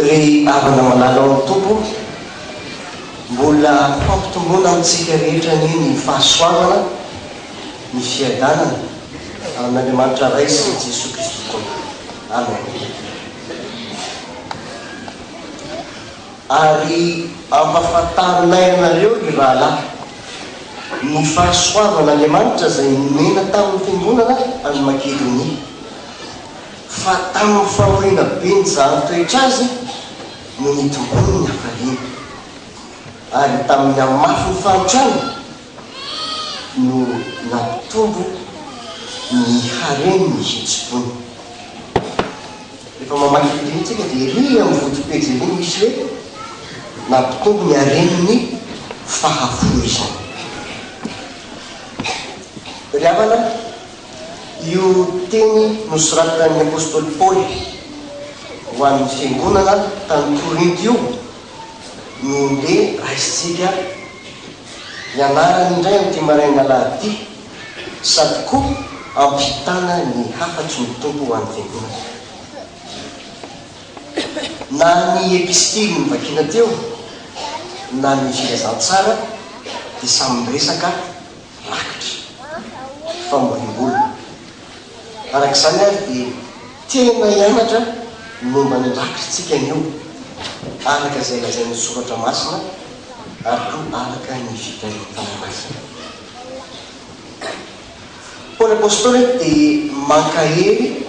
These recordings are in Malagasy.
Ry havana malala ao amin'ny Tompo, mbola fampitomboana amintsika rehetra anie ny fahasoavana, ny fiadanana, amin'Andriamanitra Ray sy Jesoa Kristy Tompo. Amen. Ary ampahafantarinay anareo, ry rahalahy, ny fahasoavan'Andriamanitra izay nomena tamin'ny fiangonana any Makedonia, fa tamin'ny fahoriana be nijanony toetra azy no nitombony ny hafaliany, ary tamin'ny hamafin'ny fanotrany no nampitombo ny haren'ny hetsi-pony. Rehefa mamaky eto iny tsika dia ery amin'ny foto pejy ery misy hoe nampitombo ny haren'ny fahafoizana. Ry havana, io teny nosoratan'ny apostoly Paoly ho an'ny fiangonana tany Korinto io no ndeha raisintsika ianarana indray amin'ity marain'alahady ity. sady koa ampitana ny hafatry ny Tompo ho an'ny Fiangonana. Na ny epistily novakina teo na ny Filazantsara dia samy miresaka rakitra, famoriam-bola. Araka izany ary dia tena hianatra ny momba ny rakitra isika anio, araka izay lazain'ny Soratra Masina ary koa araka ny fitahiam-panahy masina. Paoly Apostoly dia mankahery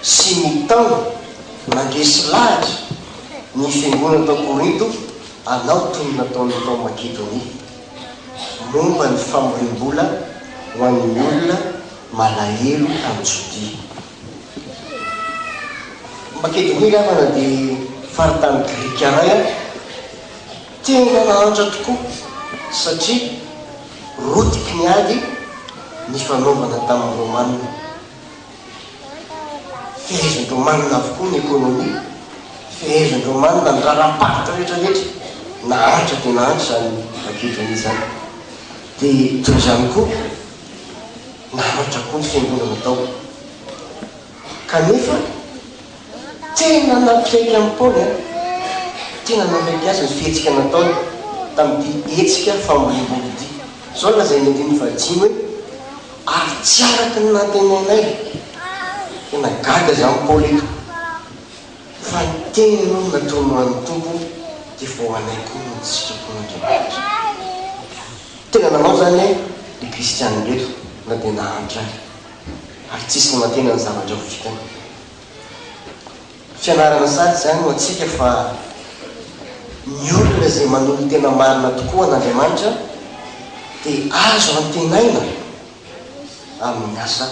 sy mitaona mandresy lahatra ny fiangonana tao Korinto hanao toy ny nataony tao Makedonia, momba ny famoriam-bola ho an'ny olona malahelo tany Jodia. Makedonia, havana, dia faritany grika iray. Tian'i Ranahantra tokoa satria rotiky ny ady nifanaovana tamin'ny Romanina. Fehezin'ny Romanina avokoa ny ekonomia, fehezin'ny Romanina ny raharaham-paritra rehetra rehetra. Nahantra dia nahantra izany Makedônia izany. Dia toy izany koa, nahantra koa ny fiangonana tao. Kanefa, tena nampiaiky an'i Paoly an! Tena nampiaiky azy ny fihetsika nataony tamin'ity hetsika famoriam-bolo ity. Izao no lazain'ny andininy fahadimy hoe, Ary tsy araka ny nantenainay. Tena gaga izany i Paoly eto, fa ny teniny aloha no nataony ho an'ny Tompo, dia vao anay koa noho ny sitrapon'Andriamanitra. Tena nanao izany ilay kristiana ireto, na dia nahantra aza. ary tsisy manantena ny zavatra ho vitany. Fianarana sady izany ho antsika fa ny olona izay manolo-tena marina tokoa an'Andriamanitra dia azo antenaina amin'ny asa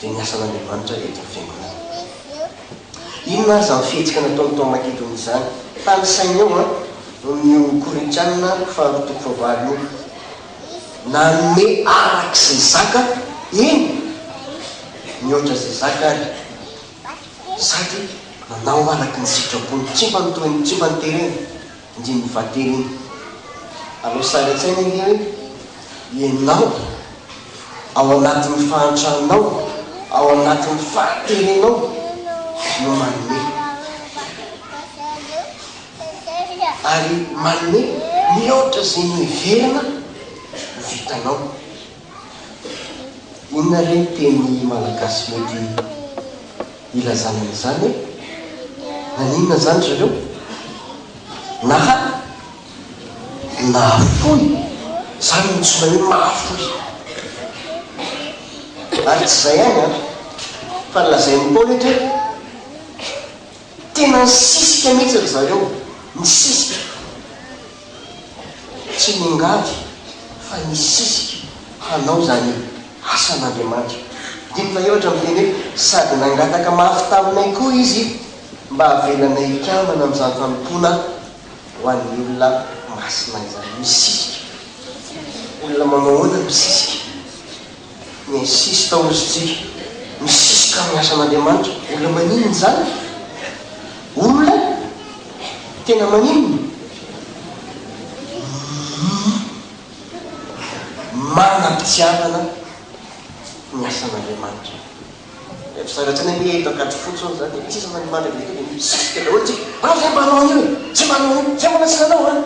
dia ny asan'Andriamanitra eto amin'ny fiangonana. Inona ary izany fihetsika nataony tao Makedonia izany? Tanisainy eo an, amin'io Korintiana faharoa toko fahavalo io. nanome araka izay zakany, eny, nihoatra izay zakany, sady nanao araka ny sitrapony. Tsy mba nitohy, tsy mba niterena, ndry nivaterina. Aleo sary an-tsaina ange hoe ianao, ao anatin'ny fahantranao, ao anatin'ny fahaterenao no manome. ary manome mihoatra izay niheverana ho vitanao. Inona re ny teny malagasy mety hilazana an'izany e? Naninona izany ry zareo? Naha nahafoy, izany no tsy maheno mahafoy. Ary tsy izay ihany an, fa lazain'i Paoly ohatra hoe. Tena nisisika mihitsy ry zareo, nisisika. Tsy niangavy fa nisisika hanao izany asan'Andriamanitra. Dimy fahefatra miteny hoe, Sady nangataka mafy taminay koa izy mba havelanay hikambana amin'izany fanompoana ho an'ny olona masina izany. Nisisika. Olona manao ahoana no misisika? ny sisy taorintsika misiska amin'ny asan'Andriamanitra, olona maninona izany? Olona tena maninona? Manam-pitiavana ny asan'Andriamanitra. Dia ry zareo tsy hanaiky hoe eto Ankadifotsy hono izany dia tsisy manimandry avy eo dia misiska daholo isika, ah izay mba hanao an'io e, izay mba hanao an'io, izay mbola tsy nanao an!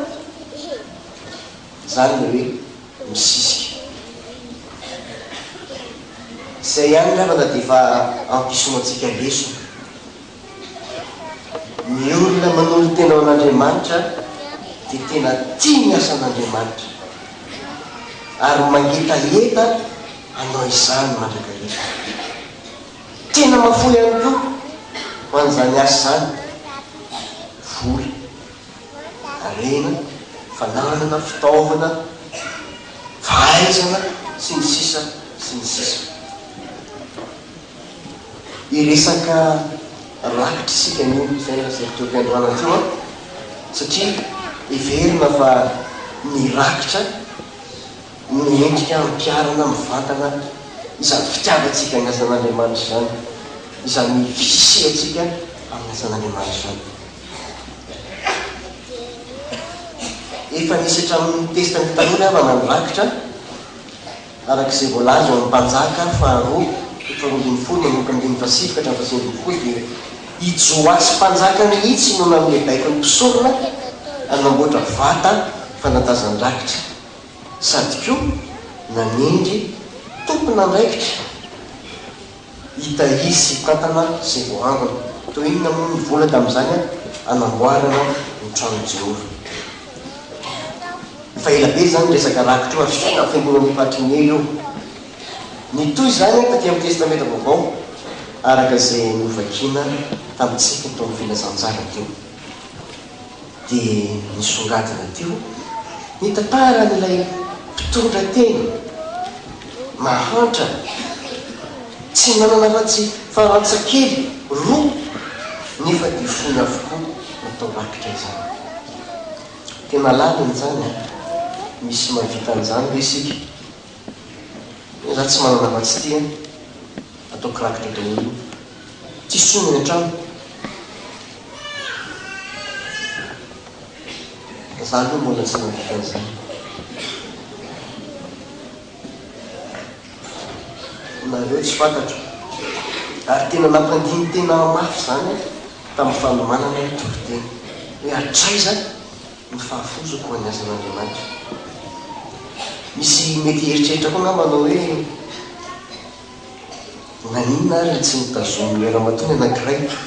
Izany ilay hoe. misisika. Izay ihany angamba na dia efa ampisoantsika lesona. Ny olona manolo-tena ho an'Andriamanitra dia tena tia ny asan'Andriamanitra ary mangetaheta hanao izany mandrakariva. Tena mahafoy ihany koa ho an'izany asa izany ny vola. harena, fananana, fitaovana, fahaizana, sy ny sisa sy ny sisa. Hiresaka rakitra isika anio, izay no aseritreriko androany teo an, satria heverina fa ny rakitra no mendrika hampiharana mivantana izany fitiavantsika ny asan'Andriamanitra izany, izany fisiantsika amin'ny asan'Andriamanitra izany. Efa nisy hatramin'ny ny testa ny taloha ny havana nirakitra, araka izay voalaza ao amin'ny Mpanjaka faharoa, toko faharoa ambin'ny folo manomboka ny andininy fahasivy ka hatramin'ny fahasivy ambin'ny folo dia i Joasy Mpanjaka mihitsy no nanome baiko ny mpisorona hanamboatra vata fanatazan-drakitra sady koa nanendry tompon'andraikitra Hita izy sy tantana sy voahangona. Toy inona moa ny vola tamin'izany hanamboarana ny tranon'i Jehovah! Efa ela be izany io resaka rakitra io, ary soa na fenoina amin'ny faritry ny ela io. Nitohy izany tatỳ amin'ny Testamenta Vaovao, araka izay novakina tamintsika teo amin'ny filazantsara teo. dia nisongadina teo ny tantaran'ilay mpitondra teny mahantra tsy nanana afa-tsy farantsa kely roa nefa dia fony avokoa natao rakitra izany. Tena lalina izany an! Misy mahavita an'izany ve isika? Izaho tsy manana afa-tsy ity an! Ataoko rakitra daholo io. Tsy solo ny trano. Za aloha mbola tsy nahita an'izany. Nareo tsy fantatro. Ary tena nampandini tena ahy mafy izany aho tamin'ny fanomanana ny toriteny hoe hatraiza ny fahafoizako ho an'ny asan'Andriamanitra. Misy mety hieritreritra koa angamba anao hoe. Na inona ary tsy notazonin'ny ray ramatoa ny anankiray ito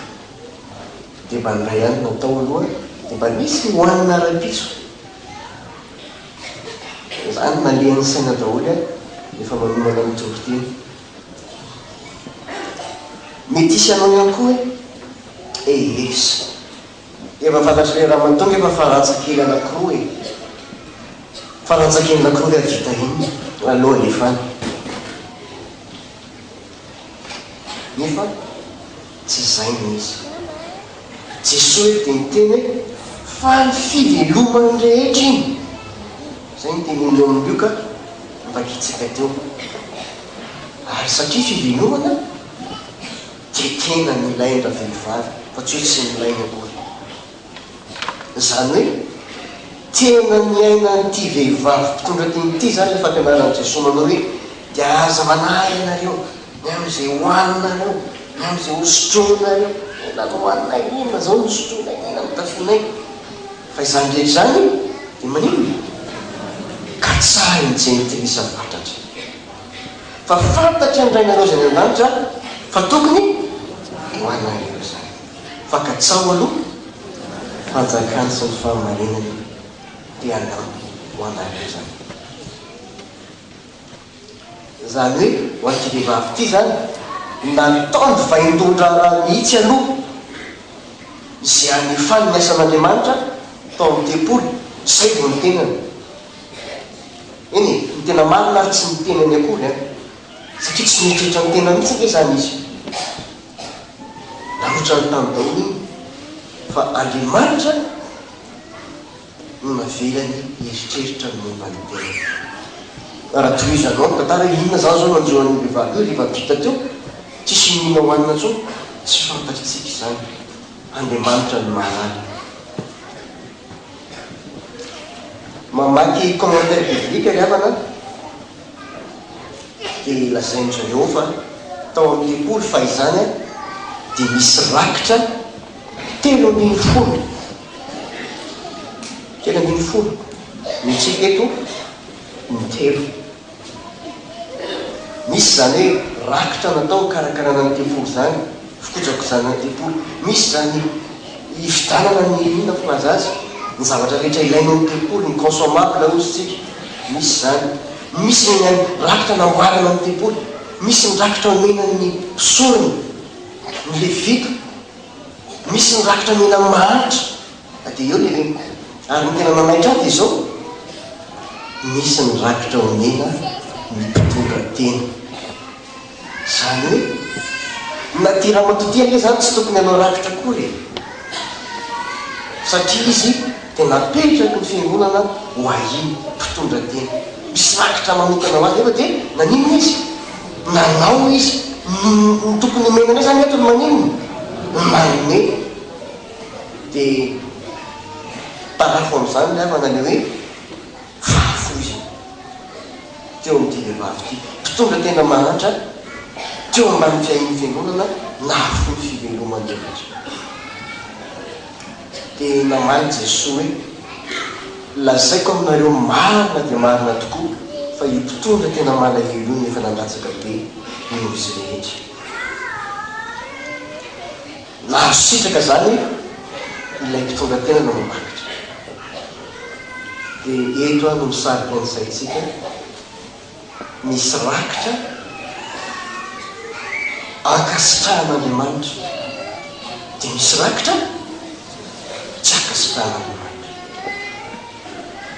dia mba indray ihany natao aloha dia mba nisy ny hohanina rahampitso dia izany nalehan'ny saina daholo aho rehefa manomana ny toriteny. Mety hisy anao ihany koa hoe, Eehh. Efa fantatry le ramatoa ngefa fa rantsa-kely anakroa e! Fa rantsa-kely nakroa ve avita inona aloha nefa any? Nefa tsy zay no izy. Jesoa eto dia niteny hoe faly fiveloman'ny rehetra iny. Zay no teny omeo amin'i Lioka novakintsika teo. Ary satria fivelomana. Dia tena nilain-dravehivavy fa tsy hoe tsy nilainy akory. Izany hoe tena niaina an'ity vehivavy mpitondra tim ity izany ilay fampianaran'i Jesoa manao hoe, Dia aza manahy ianareo ny amin'izay hohaninareo, ny amin'izay hosotroinareo. Inona no hohaninay, inona izao no hosotroinay, inona no hotafianay? Fa izany rehetra izany dia maninona? Katsahin'i Jentilisa fatratra. fa fantatry ny Rainareo izay any An-danitra fa tokony ho anareo izany. Fa katsaho aloha ny fanjakany sy ny fahamarinany dia hanampy ho anareo izany. Izany hoe ho an'ity vehivavy ity izany, nataony vaindohan-draharaha mihitsy aloha izay hanefany ny asan'Andriamanitra tao amin'ny tempoly, izay vao ny tenany. Eny e, ny tena marina ary tsy ny tenany akory an! Satria tsy mieritreritra ny tenany mihitsy ange izany izy. Narotsany tany daholo iny fa Andriamanitra no navelany hieritreritra ny momba ny tenany. Fa raha tohizanao ny tantara hoe inona izany izao no hanjo an'io vehivavy io rehefa vita teo, tsisy inoana hohanina intsony, tsy fantatritsika izany. Andriamanitra no mahalala. Mamaky commentaire biblique ry havana dia lazain'i Jehovah tao amin'ny tempoly fa izany dia nisy rakitra telo ambin'ny folo, telo ambin'ny folo, mihitsy eto ny telo. Misy izany hoe rakitra natao hikarakarana ny tempoly izany, fikojakojana ny tempoly. Misy izany hividanana ny inona moa aza azy, ny zavatra rehetra ilaina ao amin'ny tempoly, ny consommable hozy isika. Misy izany. Misy ny an'ny rakitra namboarana ny tempoly. Misy ny rakitra omena ny mpisorona, ny Levita. Misy ny rakitra omena ny mahantra. Dia eo ny reniko. Ary ny tena manaitra ahy dia izao, misy ny rakitra omena ny mpitondra tena. Izany hoe, na ity ramatoa ity anie izany tsy tokony hanao rakitra akory e! Satria izy dia napetraky ny fiangonana ho ahy mpitondra tena. Misy rakitra manokana ho azy nefa dia naninona izy? Nanao izy. Ny tokony omena anay izany eto ny maninona? Ny manome. Dia tarafo amin'izany ny havana ilay hoe fahafoizana teo amin'ity vehivavy ity. Mpitondra tena mahantra teo ambany fiahian'ny fiangonana nahafoy ny fivelomany rehetra. Dia namaly Jesoa hoe, Lazaiko aminareo marina dia marina tokoa fa io mpitondra tena malahelo io no efa nandatsaka be noho izy rehetra. Nahazo sitraka izany ilay mpitondra tena nanamarika. Dia eto no misarika ny saintsika, misy rakitra ankasitrahan'Andriamanitra, dia misy rakitra tsy ankasitrahan'Andriamanitra.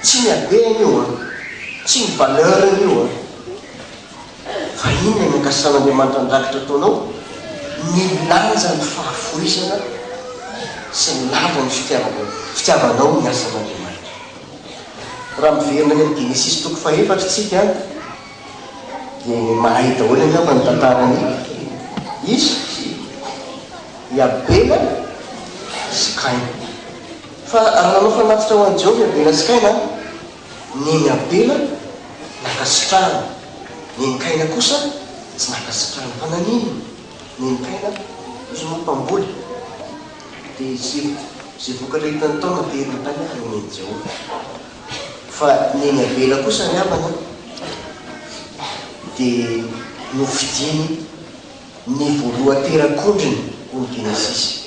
Tsy ny habeny io an, tsy ny valeur-ny io an. Vahiny any Ankasan'Andriamanitra Andrakitra ataonao nilanja ny fahavoizana sy ny lanja ny fitiavana fitiavanao ny asan'Andriamanitra. Raha miverina any amin'ny Genesisy toko fahefatra isika dia mahay daholo angamba ny tantaran'i Isa sy i Abela sy Kaina. Fa raha nanao fanatitra ho an'i Jehovah i Abela sy Kaina, Neny Abela nankasitrahany, neny Kaina kosa tsy nankasitrahany. Fa nanino neny Kaina? Izy moa mpamboly, dia izay izay vokatra hitany tao no ateriny tany ary nen'i Jehovah. Fa neny Abela kosa ry havana, dia nofidiny ny voalohan-terak'ondriny, hoy ny Genesisy.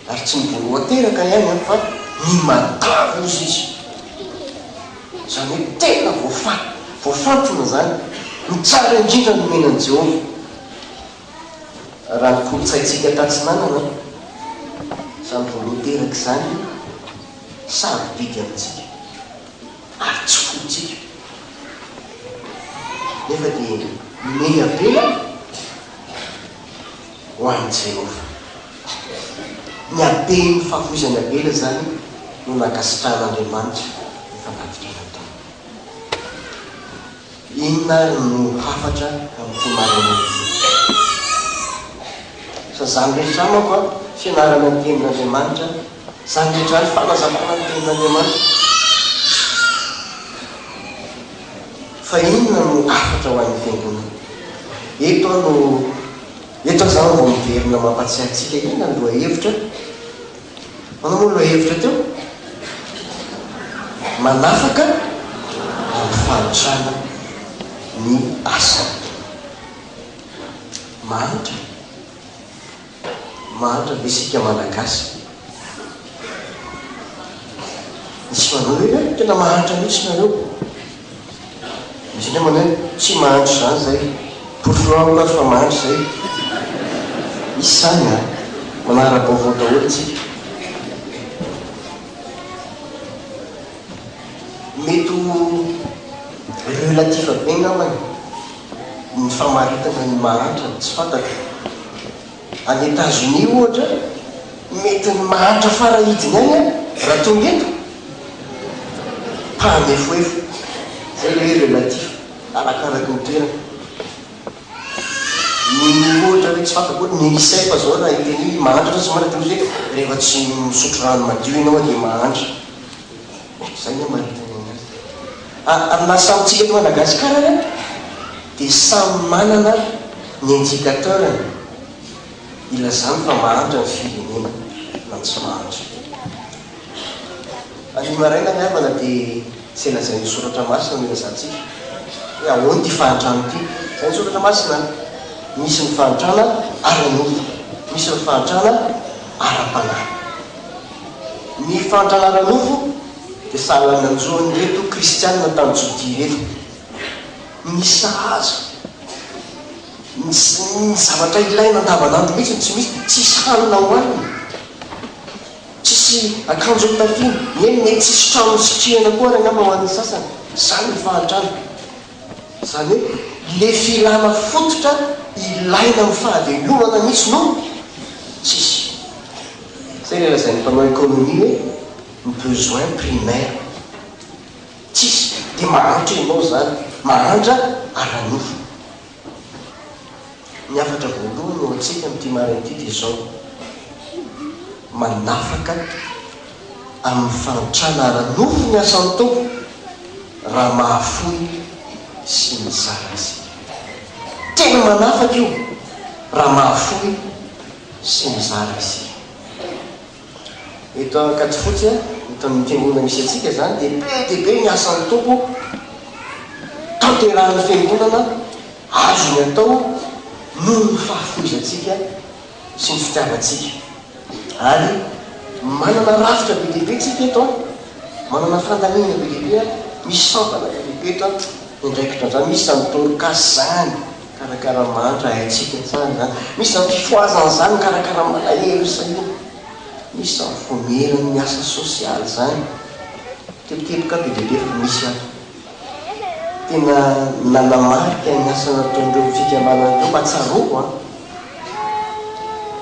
ary tsy ny voaloha teraka ny ainy fa ny matavy ozy izy izany hoe tena voafaty, voafantina izany ny tsara indrindra nomena an'i Jehovah. Raha ny kolontsaintsika tatsinanana izany voaloha teraka izany sarobidy amintsika ary tsy fointsika nefa dia mehiabela. ho an'i Jehovah. Ny haben'ny favoizan'i Abela izany no nankasitrahan'Andriamanitra ny fanatitra nataony. Inona àry no hafatra amin'ity maraina ity? Fa izany rehetra amako fianarana ny Tenin'Andriamanitra. Izany rehetra izany fanazavana ny Tenin'Andriamanitra. Fa inona no hafatra ho an'ny Fiangonana? Eto aho no, eto aho izany vao miverina mampatsiahy antsika inona ny lohahevitra. Ahoana moa ny lohahevitra teo? Manafaka amin'ny fanotrana ny asany. Mahantra e! Mahantra ve isika Malagasy? Misy manao hoe eh, tena mahantra mihitsy nareo. Misy indray manao hoe tsy mahantra izany izay. Porofo amiko ary fa mahantra izay. Misy izany an! Manara-baovao daholo isika. Mety ho relatif be angambany. ny famaritana ny mahantra no tsy fantatro. Any Etazonia ohatra, mety ny mahantra farahidiny any aho raha tonga eto. Mpahanefoefo. Izay ilay hoe relatif, arakaraky ny toerana. Ny ohatra hoe tsy fantako hoe ny UNICEF izao raha hiteny hoe mahantra ianao, tsy mahantra dia mety hoe rehefa tsy misotro rano madio ianao dia mahantra. Zay ny maritana anazy. Amina samy tsika eto Madagascar ary an de samy manana ny indicateur-ny ilazany fa mahantra ny firenena na tsy mahantra. Anio maraina ny havana de zay lazain'ny soratra masina no ilazantsika hoe ahoana ity fahantrana ity. Zay ny soratra masina an! Misy ny fahantrana ara-nofo, misy ny fahantrana ara-panahy. Ny fandra ara-nofo dia sahala ny anjon'ireto Kristianina tany Jodia ireto. Ny sahaza, ny zavatra ilaina andavanandro mihitsy no tsy misy, tsisy hanina hohanina, tsisy akanjo hotafiana, eny, mety tsisy trano hisitrihana koa ary angamba ho an'ny sasany. Izany ny fahantrana. Izany hoe le filana fototra ilaina amin'ny fahavelomana mihitsy no tsisy. Izay le lazain'ny mpanao economie hoe ny besoin primaire tsisy de mahantra ianao izany, mahantra ara-nofo. Ny hafatra voalohany ho antsika amin'ity marina ity dia izao, manafaka amin'ny fahantrana ara-nofo ny asan'ny Tompo raha mahafoy sy mizara isika. Tena manafaka io raha mahafoy sy mizara isika. Eto Ankadifotsy, eto amin'ny fiangonana misy antsika izany dia be dia be ny asan'ny Tompo tanterahin'ny fiangonana azony atao noho ny fahafoizantsika sy ny fitiavantsika. Ary manana rafitra be dia be tsika eto an! Manana fandaniana be dia be an! Misy sampana be dia be eto an! Ny andraikitran'izany misy izany Dorcas izany. Karakara mantra haintsika tsara izany. Misy izany fifohazana izany, mikarakara malahelo sy ny. Misy izany voamerin'ny asa sosialy izany. Tebiteboka be dia be fa misy ato. Tena nanamarika ny asa nataon'ireo fikambanana teo mba tsaroako an,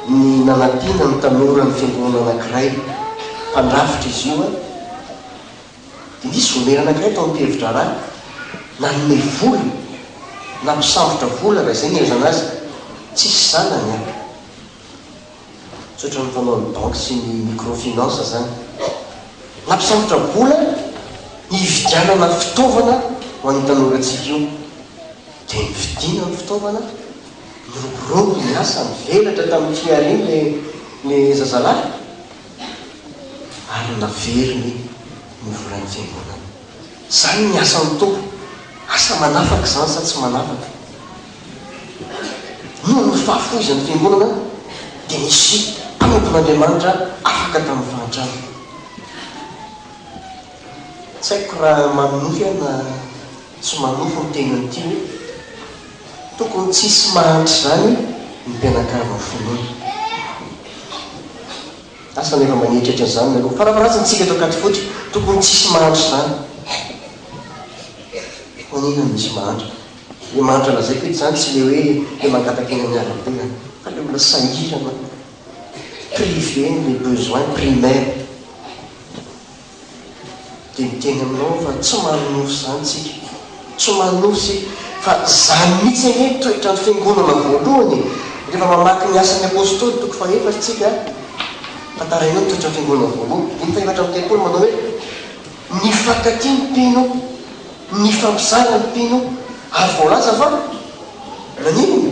ny nanampiana ny tanora ny fiangonana anankiray. Mpandrafitra izy io an. Nisy vonery anankiray tao am-pihevi-draharaha nanome vola na mpisambotra vola raha izay no ilazana azy. Tsisy zanany an! Tsy ohatran'ny fanaon'ny banky sy ny microfinance izany. Nampisambotra vola ny hividianana fitaovana ho an'io tanorantsika io. Dia novidiana ny fitaovana, niroborobo ny asa, nivelatra tamin'ny fihariana ilay zazalahy. ary naveriny ny volan'ny fiangonana. Izany ny asan'ny Tompo. Asa manafaka izany sa tsy manafaka? Noho ny fahafoizan'ny fiangonana dia nisy mpanompon'Andriamanitra afaka tamin'ny fahantrana. Tsy haiko raha manonofy aho na. Tsy manofy ny teniny ity hoe, tokony tsy hisy mahantra izany ny mpianakavin'ny finoana. Asa na efa manieritreritra an'izany ianareo. Farafaharazany isika eto Ankadifotsy, tokony tsy hisy mahantra izany. Fa inona no misy mahantra? Ilay mahantra lazaiko eto izany tsy ilay hoe te mangataka eny amin'ny arabe an! Fa ilay olona sahirana, privé-n'ilay besoin primaire. Dia miteny aminao aho fa tsy manonofy izany isika. Tsy manonofy isika. Fa izany mihitsy anie ny toetran'ny Fiangonana voalohany e! Rehefa mamaky ny Asan'ny Apôstôly toko fahefatra isika, fa tarainao ny toetran'ny Fiangonana voalohany, dimy fahefatra amby telopolo manao hoe, Nifankatia ny mpino, nifampizara ny mpino, ary voalaza fa naninona?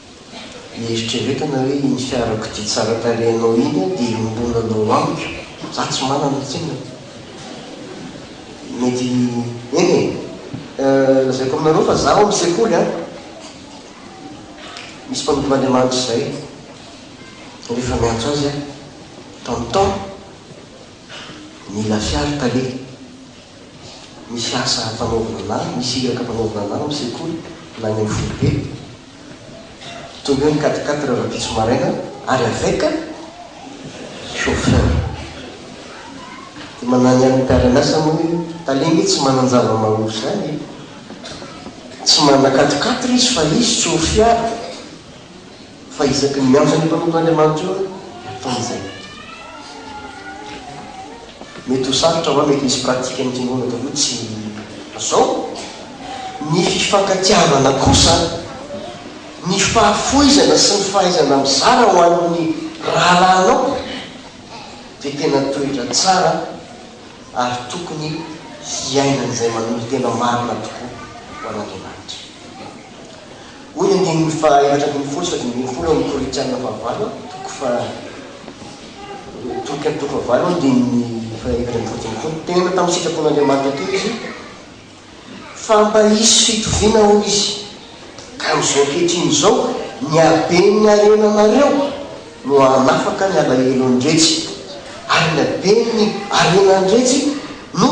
Mieritrereta anao hoe iny fiarakodia tsara tarehy anao iny aho dia iombona anao amiko za tsy manana tsinona e! Mety eny e! Lazaiko aminareo fa za ao amin'ny sekoly an! Misy mpanompo Andriamanitra izay rehefa miantso azy aho ton ton mila fiara taleha misy asa ampanaovina anah, misy iraka ampanaovina anah ao amin'ny sekoly na any amin'ny foibe Tonga ny quatre quatre heures ampitso maraina ary avec chauffeur. Dia manany an'ny mpiara-miasa moa hoe tale nge tsy manan-java-mahaory izany e. Tsy manana quatre quatre izy fa izy tsy ho fiara. Fa isaky ny miantso an'io mpanompon'Andriamanitra io aho dia ataony izay. Mety ho sarotra va? Mety misy pratique ny kingona taloha tsy zao? Ny fifankatiavana kosa, ny fahafoizana sy ny fahaizana mizara ho an'ny rahalahinao dia tena toetra tsara ary tokony hiainan'izay manolotena marina tokoa ho an'Andriamanitra. Hoy ny andininy faha efatra ambin'ny folo sy fito ambin'ny folo ao amin'ny Korintiana fahavalo, toko faha toko toko fahavalo andininy faha efatra ambin'ny folo sy ambin'ny folo, Teneno tamin'ny sitrapon'Andriamanitra teo izy, fa mba hisy fitoviana hoy izy, ka amin'izao ankehitriny izao ny haben'ny harenanareo, no hanafaka ny alahelon-dretsy, ary ny haben'ny harenan-dretsy no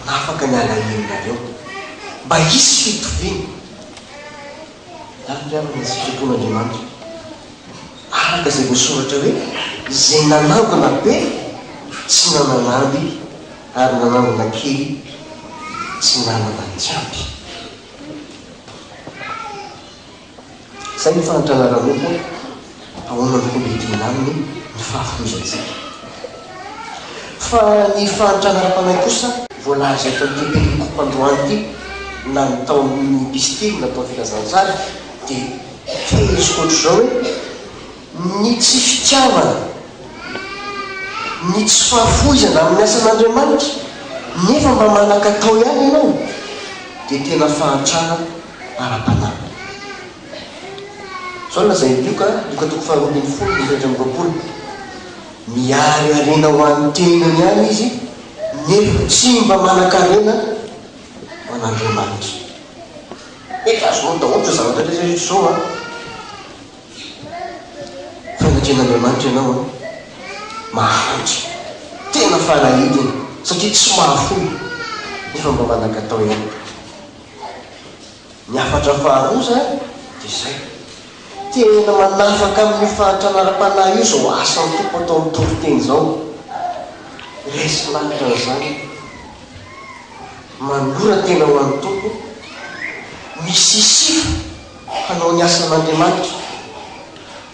hanafaka ny alahelonareo, mba hisy fitoviana miankina amin'ny sitrapon'Andriamanitra, araka izay voasoratra hoe, Izay nanangona be tsy nanana amby, ary nanangona kely tsy nanana tsy ampy. Izay no fahantrana ara-nofo ahoana no homendrena aminy ny fahafoizantsika. Fa ny fahantrana ara-panahy kosa? Voalaza eto amin'ity perikopa androany ity na ny tao amin'ny epistily natao Filazantsara dia feheziko ohatr'izao hoe, ny tsy fitiavana, ny tsy fahafoizana amin'ny asan'Andriamanitra nefa mba manan-katao ihany ianao dia tena fahantrana ara-panahy. Izao no lazain'i Lioka, Lioka toko faharoa ambin'ny folo, ny efatra amby roapolo, Miariariana ho an'ny tenany ihany izy, nefa tsy mba manan-karena ho an'Andriamanitra. Mety azonao daholo izao zavatra rehetra rehetra izao an! Fa ny atrehin'Andriamanitra ianao an, mahantra, tena farahidiny, satria tsy mahafoy, nefa mba manan-katao ihany. Ny hafatra faharoa izany dia izay, tena manafaka amin'io fahantrana ara-panahy io izao asan'ny Tompo ataon'ny toriteny izao. Resy lahatra an'izany, manora-tena ho an'ny Tompo, misisifa hanao ny asan'Andriamanitra,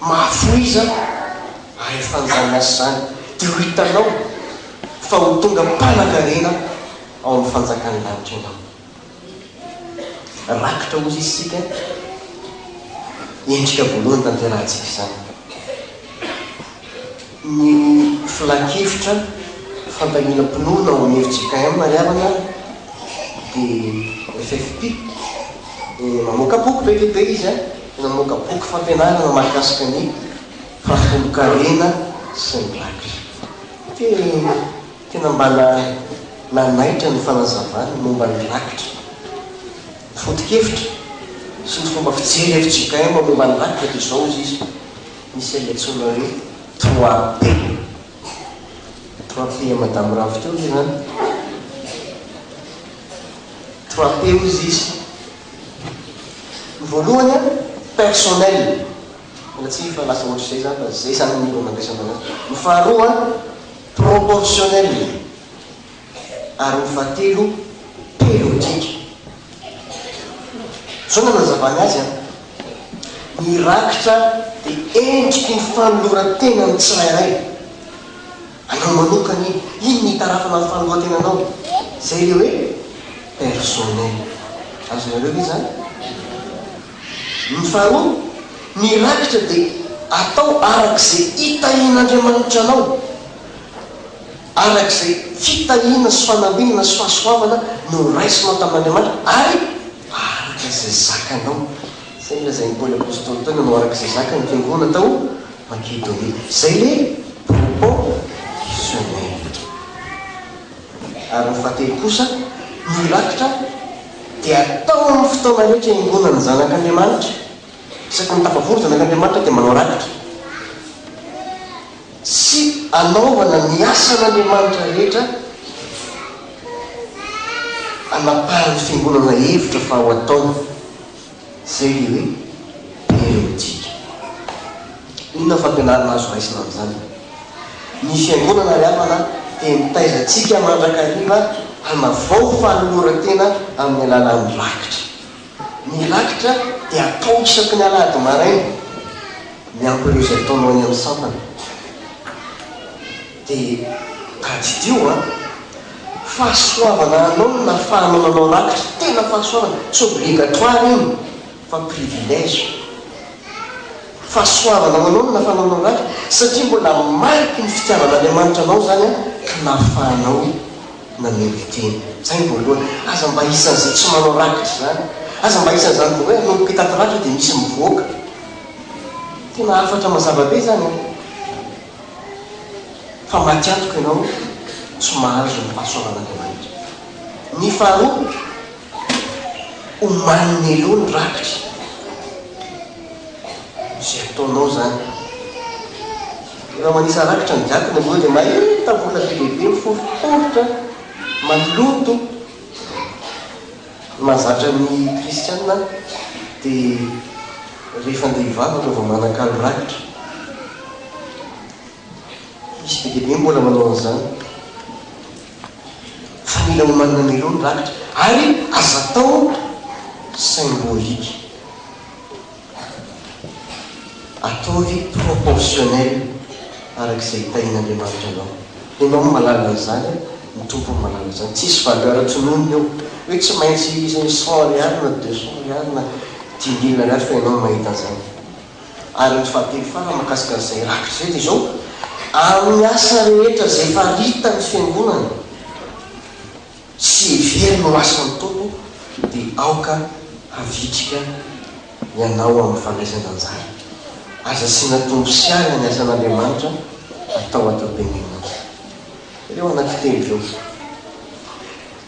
mahafohiza ahefan'izany asa izany, dia ho hitanao fa ho tonga mpanankarena ao amin'ny fanjakan'ny lanitra ianao. Rakitra ozy isika endrika voalohany tanterahantsika izany. Ny filan-kevitra fandaniana mpinono ao amin'ny fjkm Marialana dia FFP. Mamoaka boky be dia be izy, mamoaka boky fampianarana mahakasika ny fampitonokarena sy ny rakitra. Tena mba nanaitra ny fanazavany momba ny rakitra, ny foto-kevitra sy ny fomba fijery fjkm momba ny rakitra dia izao hozy izy, Misy ilay antsoina hoe trois P, trois P madame Ravo teo ve izany? trois P hozy izy, ny voalohany an, personnel, miala tsiny fa lasa ohatr'izay izany fa izay izany no andraisana an'azy, ny faharoa an, proportionnel e! ary ny fahatelo pelotike. Zao no anazavany azy an! Ny rakitra dia endriky ny fanoloran-tena ny tsirairay. Anao manokana iny, iny no itarafana ny fanoloan-tenanao. Izay ilay hoe personnel. Azonareo ve izany? Ny faharoa, ny rakitra dia atao araka izay itahian'Andriamanitra anao, araka izay fitahiana sy fanambinana sy fahasoavana noraisinao tamin'Andriamanitra, ary araka izay zakanao. Izay nolazain'i Paoly Apostoly tao, nanao araka izay zaka ny fiangonana tao Makedonia. Izay ilay proportionnel. Ary ny fahatelo kosa, ny rakitra. dia atao amin'ny fotoana rehetra iangonan'ny Zanak'Andriamanitra. Isaky ny tafavory ny Zanak'Andriamanitra dia manao rakitra sy anaovana ny asan'Andriamanitra rehetra anapahan'ny Fiangonana hevitra fa ho ataony. Izay ilay hoe periodika. Inona fampianarana azo raisina amin'izany? Ny Fiangonana Havana dia mitaiza antsika mandrakariva hanavao fanoloran-tena amin'ny alalan'ny rakitra. Ny rakitra dia atao isaky ny alahady maraina, miampy ireo izay ataonao eny amin'ny sampana. Dia tadidio an! Fahasoavana anao no nahafahanao nanao rakitra, tena fahasoavana, tsy obligatoire iny fa privilège. Fahasoavana ho anao no nahafahanao nanao rakitra satria mbola mariky ny fitiavan'Andriamanitra anao izany an, ka nahafahanao na-mériter. Izay ny voalohany. Aza mba isan'izay tsy manao rakitra izany. Aza mba isan'izany vao hoe hanomboka hitaty rakitra dia misy mivoaka. Tena hafatra mazava be izany an! fa maty antoka ianao tsy mahazo ny fahasoavan'Andriamanitra. Ny faharoa, omanin'ny eo ny rakitra. Izay ataonao izany. Rehefa manisa rakitra ny jadona ianao dia mahita vola be dia be miforoporotra, maloto. Ny mahazatra ny kristiana dia rehefa andeha hivavaka vao manakalo rakitra. Misy be dia be mbola manao an'izany. Fa mila omanina mialoha ny rakitra. Ary aza atao symbolique. Ataovy proportionnel araka izay hitahian'Andriamanitra anao. Ianao no mahalala izany, ny Tompo no mahalala izany. Tsisy valeur tononina eo, hoe tsy maintsy izay cent ariary na deux cent ariary na dimy mille ariary fa ianao no mahita an'izany. Ary ny fahatelo farany mahakasika an'izay rakitra izay dia izao, amin'ny asa rehetra izay faritany ny Fiangonana, sy ny hery no lasan'ny Tompo dia aoka havitrika ianao amin'ny fandraisan-danjara. Aza asiana tombosiana ny asan'Andriamanitra atao ato am-piangonana. Ireo anankitelo ireo.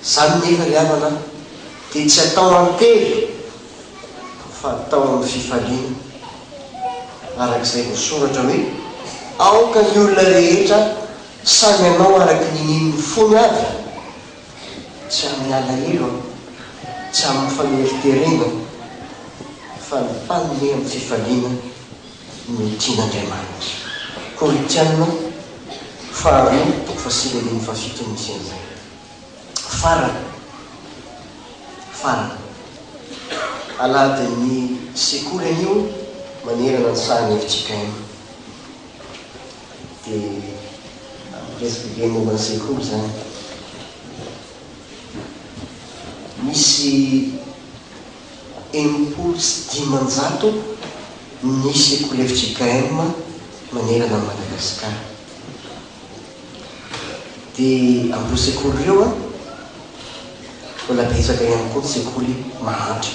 Izany nefa ry havana dia tsy atao an-tery fa atao amin'ny fifaliana araka izay voasoratra hoe, Aoka ny olona rehetra Sa ianao araky ny nininy fony avy? Tsy amin'ny alahelo aho, tsy amin'ny faneriterena aho, fa nifaniry amin'ny fifaliana no tian'Andriamanitra. Korintiana faharoa toko fahasivy andininy fahafito no misy an'izany. Farany, farany, alahadin'ny sekoly anio manerana ny sahan'ny FJKM. Dia nampiresaka kely momba ny sekoly izany. Nisy enimpolo sy dimanjato ny sekoly fjkm manerana an'i Madagasikara. Dia amin'ireo sekoly ireo, mbola betsaka ihany koa ny sekoly mahantra.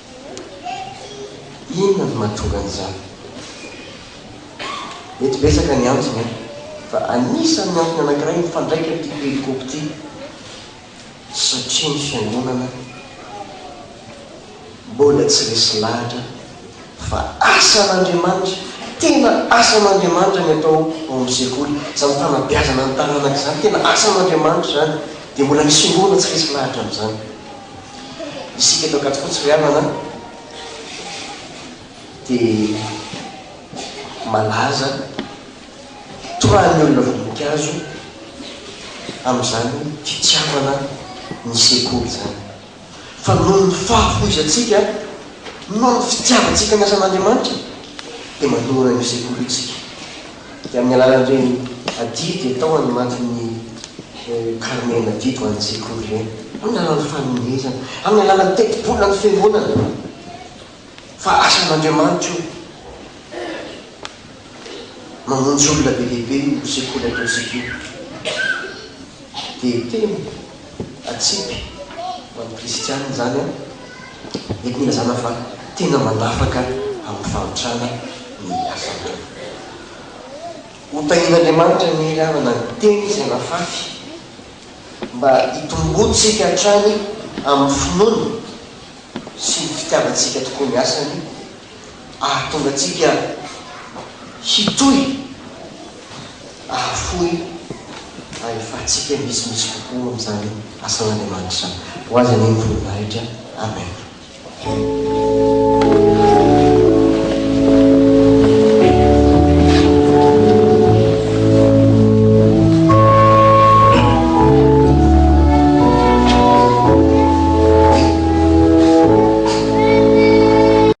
Inona no mahatonga an'izany? Mety betsaka ny antony an! Fa anisan'ny antony anankiray mifandraika amin'ity perikopy ity, satria ny fiangonana mbola tsy resy lahatra fa asan'Andriamanitra, tena asan'Andriamanitra ny atao ao amin'ny sekoly, izany fanabeazana ny taranaka izany, tena asan'Andriamanitra izany, dia mbola ny sinoana tsy resy lahatra amin'izany. Isika eto Ankadifotsy ry havana dia malaza torahan'ny olona voninkazo amin'izany fitiavana ny sekoly izany. Fa noho ny fahafoizantsika, noho ny fitiavantsika ny asan'Andriamanitra dia manoloana an'io sekoly io isika. Dia amin'ny alalan'ireny adidy atao any anatin'ny karnean'adidy ho an'ny sekoly ireny, amin'ny alalan'ny fanomezana, amin'ny alalan'ny tetibolan'ny fiangonana, fa asan'Andriamanitra io. Mamonjy olona be dia be io sekoly ataontsika io. dia teny atsipy ho an'ny kristiana izany an! Mety nilazana fa tena mandafaka amin'ny fahantrana ny asany. Hotahian'Andriamanitra ny hery havana ny teny izay nafafy mba hitomboantsika hatrany amin'ny finoana sy ny fitiavantsika tokoa ny asany ahatonga antsika hitohy ahafoy ahefantsika misimisy kokoa amin'izany asan'Andriamanitra izany. Ho Azy anie ny voninahitra. Amen.